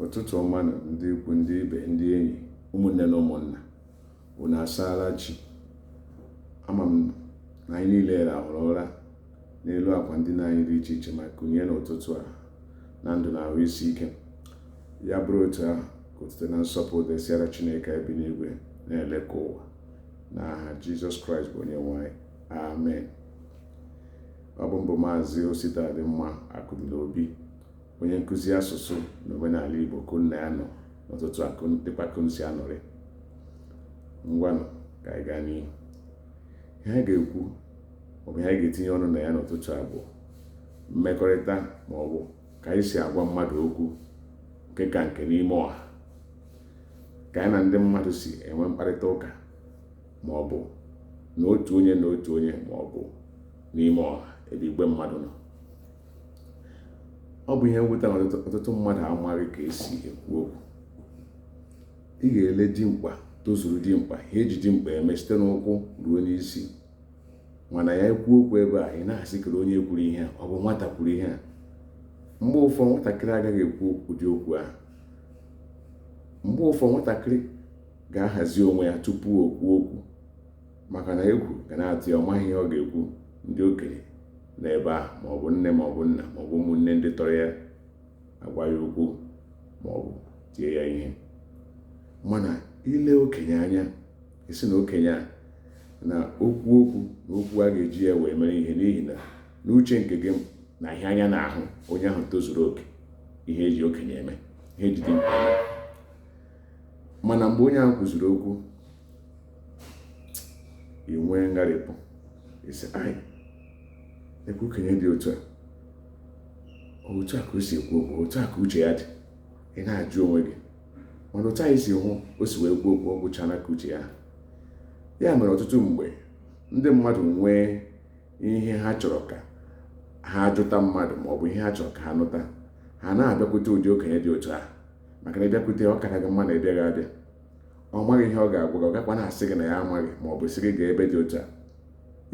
ụtụtụ ọma nụ ndị ikwu ndị ibe ndị enyi ụmụnne na ụmụnna unu asaala chi ama m na anyị niile rahụrụ ụra n'elu akwa ndina anyị dị iche iche ma kunie n'ụtụtụ a na ndụ na ahụ isi ike ya bụrụ otu ahụ ka otuto na nsọpụrụ dịsịara chineke bi n'igwe na-ele ka ụwa n'aha jizọs kraịst bụ onye nwe anyị amen Ọ bụ m bụ Maazị Ositadịmma Akụdịnobi, onye nkụzi asụsụ na omenala Igbo ka unu na ya nọ n'ụtụtụ a kedụkwa ka unu si anọrị. Ngwanụ ka anyị gaa n'ihu. Ihe anyị ga-ekwu maọbụ ihe anyị ga-etinye ọnụ na ya n'ụtụtụ a bụ mmekọrịta maọbụ ka anyị si agwa mmadụ okwu nke ka nke n'ime ọha ka anyị na ndị mmadụ si enwe mkparịta ụka ma ọ bụ na otu onye na otu onye ma ọ bụ n'ime ọha ebe igwe mmadụ nọ ọ bụ ihe mwute na ọtụtụ mmadụ amaghị ka esi ekwu okwu ị ga-ele dimkpa tozuru dimkpa ihe eji dimkpa eme site n'ụkwụ ruo n'isi mana ya ekwu okwu ị bịa na-asị kere onye kwuru ihe a ọ bụ nwata kwuru ihe a mgbe ụfọdụ nwatakịrị agaghị ekwu ụdị okwu ahụ mgbe ụfọdụ nwatakịrị ga-ahazi onwe ya tupu o kwuo okwu maka na egwu ga na-atụ ya ọ maghị ihe ọ ga-ekwu ndị okenye nọ ebe ahụ maọbụ nne maọbụ nna maọbụ ụmụnne ndị tọrọ ya agwa ya okwu maọbụ tie ya ihe mana ị lee okenye anya ị sị na okenye a na o kwuo okwu na okwu a ga-eji ya wee mere ihe n'ihi na n'uche nke gị na ihe anya na-ahụ onye ahụ tozuru oke ihe eji okenye eme ihe eji dimkpa mana mgbe onye ahụ kwuziri okwu ị nwee ngharịpụ ị sị lekwa okenye dị otu a otu a ka o si ekwu okwu otu a ka uche ya dị ị na-ajụ onwe gị mana otu anyị si hụ o si wee kwuo okwu ọ gwụchara ka uche ya ha ya mere ọtụtụ mgbe ndị mmadụ nwee ihe ha chọrọ ka ha jụta mmadụ maọbụ ihe ha chọrọ ka ha nụta ha na-abịakwute ụdị okenye dị otu ahụ maka na ịbịakwute ọ kara gị mma na ịbịaghị abịa ọ maghị ihe ọ ga-agwa gị ọ gakwa na-asị gị na ya amaghị ma ọ bụ sị gị gaa ebe dị otu a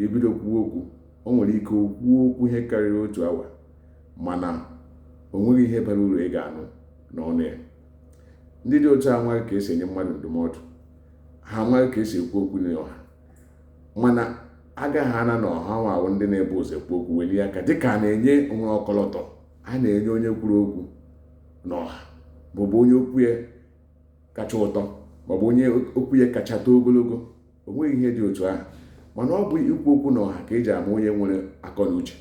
o bido kwuo okwu o nwere ike kwuo okwu ihe karịrị otu awa mana o nweghị ihe bara uru ị ga-anụ n'ọnụ ya ndị dị otu a amaghị ka esi enye mmadụ ndụmọdụ ha amaghị ka esi ekwu okwu n'ọha mana a ga-ahụ na ọ hanwa wụ ndị na-ebu ụzọ ekwu okwu welie aka dịka a na-enye o nwere ọkọlọtọ a na-enye onye kwuru okwu n'ọha maọbụ onye okwu ya kacha ụtọ maọbụ onye okwu ya kacha too ogologo o nweghị ihe dị otu ahụ mana ọ bụ ikwu okwu n'ọha ka e ji ama onye nwere akọ na uche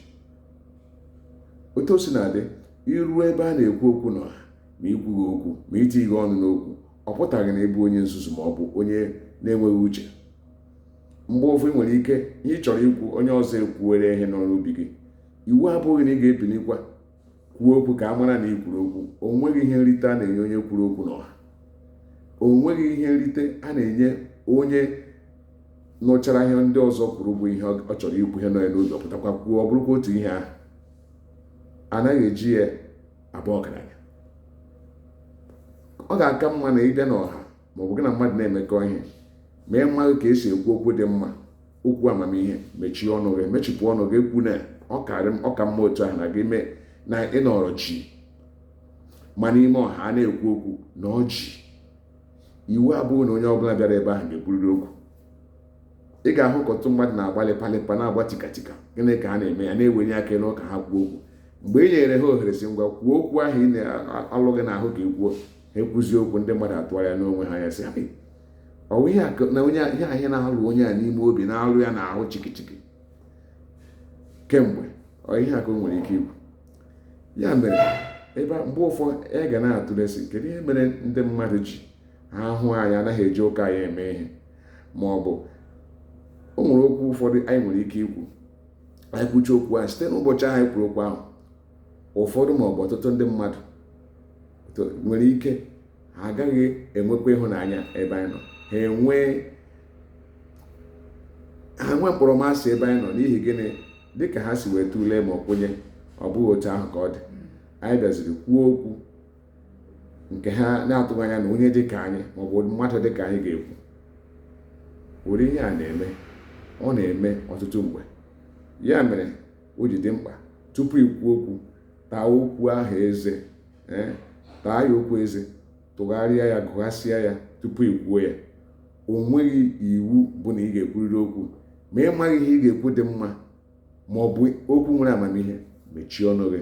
otu o si na-adị i ruo ebe a na-ekwu okwu n'ọha ma i kwughị okwu ma i tighi ọnụ n'okwu ọ pụtaghị na ị bụ onye nzuzu ma ọ bụ onye na-enweghị uche mgbe ụfọdụ nwere ike ihe ị chọrọ ikwu onye ọzọ ekwuwere ihe nọ n'obi gị iwu abụghị na ị ga-ebilikwa kwuo okwu ka a mara na ị kwuru okwu o nweghị ihe nrite a na-enye onye kwuru okwu n'ọha o nweghị ihe nrite a na-enye onye nụchara ihe ndị ọzọ kwuru bụ ihe ọ chọrọ ikwu ihe nọ ya n'obi ọ pụtakwa kwuo ọ bụrụkwa otu ihe ahụ anaghị eji ya abụ ọgaranya ọ ga-aka mma na ị bịa n'ọha ma ọ bụ gị na mmadụ na-emekọ ihe ma ị maghị ka e si ekwu okwu dị mma okwu amamihe mechie ọnụ gị mechipụ ọnụ gị ekwuna ọ ka mma otu ahụ na gị mee na ị nọrọ jii ma n'ime ọha a na-ekwu okwu nọrọ jii iwu abụghị na onye ọbụla bịara ebe ahụ ga-ekwurịrị okwu ị ga-ahụ ka ọtụtụ mmadụ na-agba lịpalịpa na-agba tikatika gịnị ka ha na-eme ya na-ewenye aka enu ka ha kwuo okwu mgbe e nyere ha ohere sị ngwa kwuo okwu ahụ na-alụ gị n'ahụ ka i kwuo ha ekwuzi okwu ndị mmadụ atụgharịa n'onwe ha ya sị ọ wụ ihe na onye ihe ahụ na-alụ onye a n'ime obi na-alụ ya n'ahụ chikichiki kemgbe ọ ihe a ka o nwere ike ikwu ya mere mgbe ụfọdụ ị ga na-atụle sị kedu ihe mere ndị mmadụ ji ha hụ anyị anaghị eji ụka anyị eme ihe ma ọ bụ o nwere okwu ụfọdụ anyị nwere ike ikwu anyị kwuchaa okwu ahụ site n'ụbọchị ahụ anyị kwuru okwu ahụ ụfọdụ ma ọ bụ ọtụtụ ndị mmadụ nwere ike ha agaghị enwekwa ịhụnanya ebe anyị nọ ha enwee ha nwee mkpọrọmasị ebe anyị nọ n'ihi gịnị dịka ha si wee tụlee ma ọ kwenye ọ bụghị otu ahụ ka ọ dị anyị bịaziri kwuo okwu nke ha na-atụghị anya na onye dịka anyị maọbụ mmadụ dịka anyị ga-ekwu ụdị ihe a na-eme ọ na-eme ọtụtụ mgbe ya mere o ji dị mkpa tupu i kwuo okwu taa okwu ahụ eze eh, taa ya okwu eze tụgharịa ya gụghasịa ya tupu i kwuo ya o nweghị iwu bụ na ị ga-ekwurịrị okwu ma ị maghị ihe ị ga-ekwu dị mma ma ọ bụ okwu nwere amamihe mechie ọnụ gị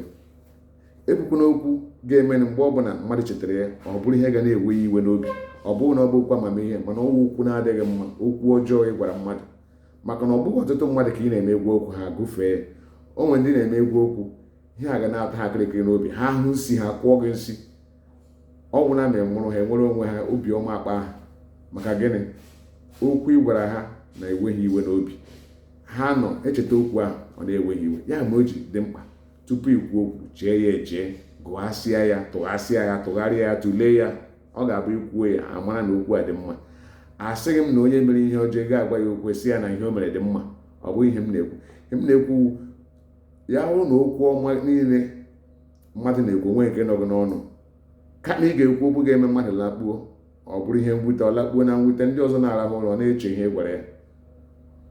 ekwukwana okwu ga-eme mgbe ọbụla mmadụ chetara ya ọ bụrụ ihe ga na-ewe ya iwe n'obi ọ bụghị na ọ bụ okwu amamihe mana ọ wụ okwu na-adịghị mma okwu ọjọọ ị gwara mmadụ maka na ọ bụghị ọtụtụ mmadụ ka ị na-eme egwu okwu ha gụfee o nwere ndị ị na-eme egwu okwu ihe a ga na-ata ha kịrịkịrị n'obi ha hụ nsi ha kụọ gị nsi ọ bụ na ị nwụrụ ha enwere onwe ha obi ọma akpa ha maka gịnị okwu ị gwara ha na-ewe ha iwe n'obi ha na-echeta okwu ahụ ọ na-ewe ha iwe ya mere o ji dị mkpa tupu ikwu okwu chee ya eche gụghasịa ya tụghasịa ya tụgharịa ya tụlee ya ọ ga-abụ i kwuo ya a mara na okwu a dị mma asịghị m na onye mere ihe ọjọọ ị ga-agwa ya okwu si ya na ihe o mere dị mma ọ bụghị ihe m na-ekwu ihe m na-ekwu ya bụrụ na okwu ọma niile mmadụ na-ekwu o nweghị nke nọ gị n'ọnụ kama ị ga-ekwu okwu ga-eme mmadụ lakpuo ọ bụrụ ihe mwute ọ lakpuo na mwute ndị ọzọ na-arahụ ụra ọ na-eche ihe ị gwara ya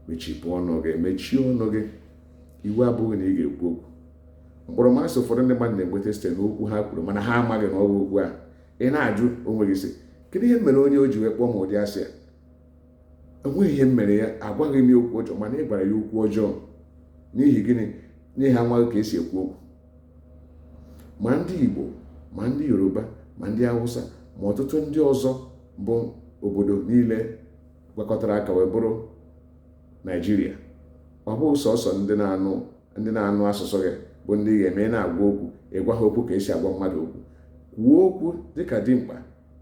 mechipụ ọnụ gị mechie ọnụ gị iwu abụghị na ị ga-ekwu okwu mkpọrọmasị ụfọdụ ndị mmadụ na-enweta site n'okwu ha kwuru mana ha amaghị na ọ bụ okwu a ị na-ajụ onwe gị sị kedu ihe m mere onye a o ji wee kpọọ m ụdị asị a o nweghị ihe m mere ya agwaghị m ya okwu ọjọọ mana ị gwara ya okwu ọjọọ n'ihi gịnị n'ihi amaghị ka esi ekwu okwu ma ndị Igbo ma ndị Yoruba ma ndị Hausa ma ọtụtụ ndị ọzọ bụ obodo niile gwakọtara aka wee bụrụ Naijiria ọ bụghị sọsọ ndị na-anụ ndị na-anụ asụsụ gị bụ ndị ị ga-eme na-agwa okwu ị gwa ha okwu ka esi agwa mmadụ okwu kwuo okwu dịka dimkpa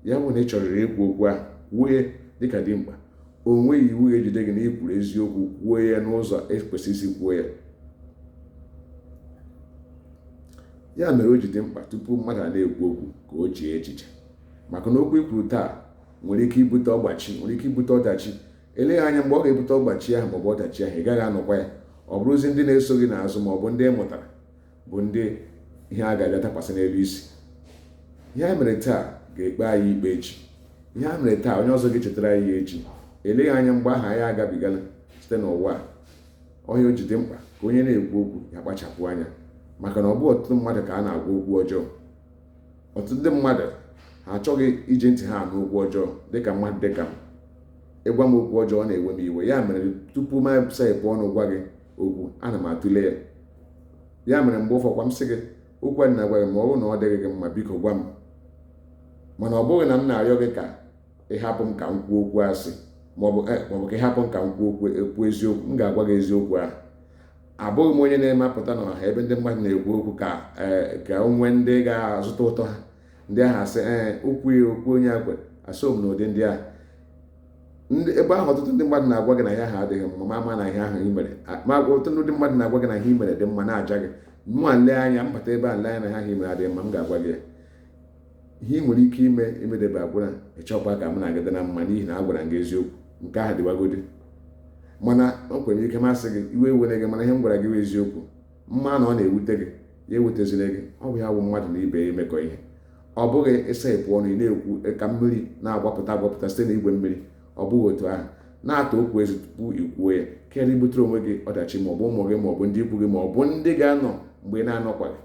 ya bụ na ị chọrịrị ikwu okwu ahụ kwuo ya dịka dimkpa o nweghị iwu ga-ejide gị na ị kwuru eziokwu kwuo ya n'ụzọ e kwesịrị isi kwuo ya ya mere o ji dị mkpa tupu mmadụ a na-ekwu okwu ka o chee echiche maka na okwu i kwuru taa nwere ike ibute ọgbachi nwere ike ibute ọdachi eleghị anya mgbe ọ ga-ebute ọgbachi ahụ maọbụ ọdachi ahụ ị gaghị anọkwa ya ọ bụrụzi ndị na-eso gị n'azụ ma ọ bụ ndị ị mụtara bụ ndị ihe a ga-abịa dakwasị n'elu isi ihe a mere taa ga-ekpe anyị ikpe echi ihe a mere taa onye ọzọ ga-echetara anyị ya echi eleghị anya mgbe ahụ anyị agabigala site n'ụwa a ọ ya o ji dị mkpa ka onye na-ekwu okwu ya kpachapụ anya maka na ọ bụghị ọtụtụ mmadụ ka a na-agwa okwu ọjọọ ọtụtụ ndị mmadụ ha achọghị iji ntị ha anụ okwu ọjọọ dịka mmadụ dịka m ị gwa m okwu ọjọọ ọ na-ewe m iwe ya mere tupu m saghepụ ọnụ gwa gị okwu ana m atụle ya ya mere mgbe ụfọkwa m sị gị okwu a m na-agwa gị ma ọ bụrụ na ọ dịghị gị mma biko gwa m mana ọ bụghị na m na-arịọ gị ka ị hapụ m ka m kwuo okwu asị maọbụ eh, maọbụ ka ị hapụ m ka m kwuo okwu eziokwu m ga-agwa gị eziokwu ahụ abụghị m onye na-emepụta n'ọha ebe ndị mmadụ na-ekwu okwu ka e, ka o nwee ndị ga-azụta ụtọ ha ndị ahụ asị ee okwu ya okwu onye akwe esoghị m na ụdị ndị ahụ ebe ahụ ọtụtụ ndị mmadụ na-agwa gị na ihe ahụ adịghị mma ma ama na ihe ahụ i mere ma ọtụtụ ndị mmadụ na-agwa gị na ihe i mere dị mma na-aja gị mụwa m lee anya m bata ebe a lee anya na ihe ahụ i mere adịghị mma m ga-agwa gị ya ihe ị nwere ike ime imedebe agwa na ịchọkwa ka m na gị dị na mma n'ihi na agwara m gị eziokwu nke ahụ dịwagodi mana o kwere ike masị gị iwe ewere gị mana ihe m gwara gị bụ eziokwu mana ọ na-ewute gị ya ewutezila gị ọ bụ ya bụ mmadụ na ibe ya imekọ ihe ọ bụghị ịsepụ ọnụ ị na-ekwu ka mmiri na-agbapụta agbapụta site na igwe mmiri ọ bụghị otu ahụ na-ata okwu eze tupu i kwuo ya karịa ibutere onwe gị ọdachi ma ọ bụ ụmụ gị ma ọ bụ ndị ikwu gị ma ọ bụ ndị ga-anọ mgbe ị na-anọkwaghị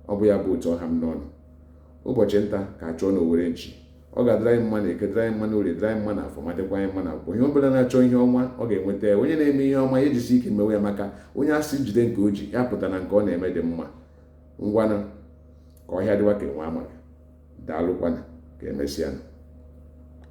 Ọ bụ ya bụ otu ọ ha m n'ọnụ. Ụbọchị nta ka a chụọ n'owere nchi. Ọ ga-adịrị anyị mma na eke, dịrị anyị mma na orie, dịrị anyị mma na afọ, ma dịkwa anyị mma na nkwọ. Onye ọ bụla na-achọ ihe ọma, ọ ga-enweta ya. Onye na-eme ihe ọma, ya ejisi ike mewe ya maka onye a sị jide nke o ji, ya pụta na nke ọ na-eme dị mma. Ngwanụ, ka ọhịa dịwa ka enwe amaghị. Daalụkwanụ, ka emesịanụ.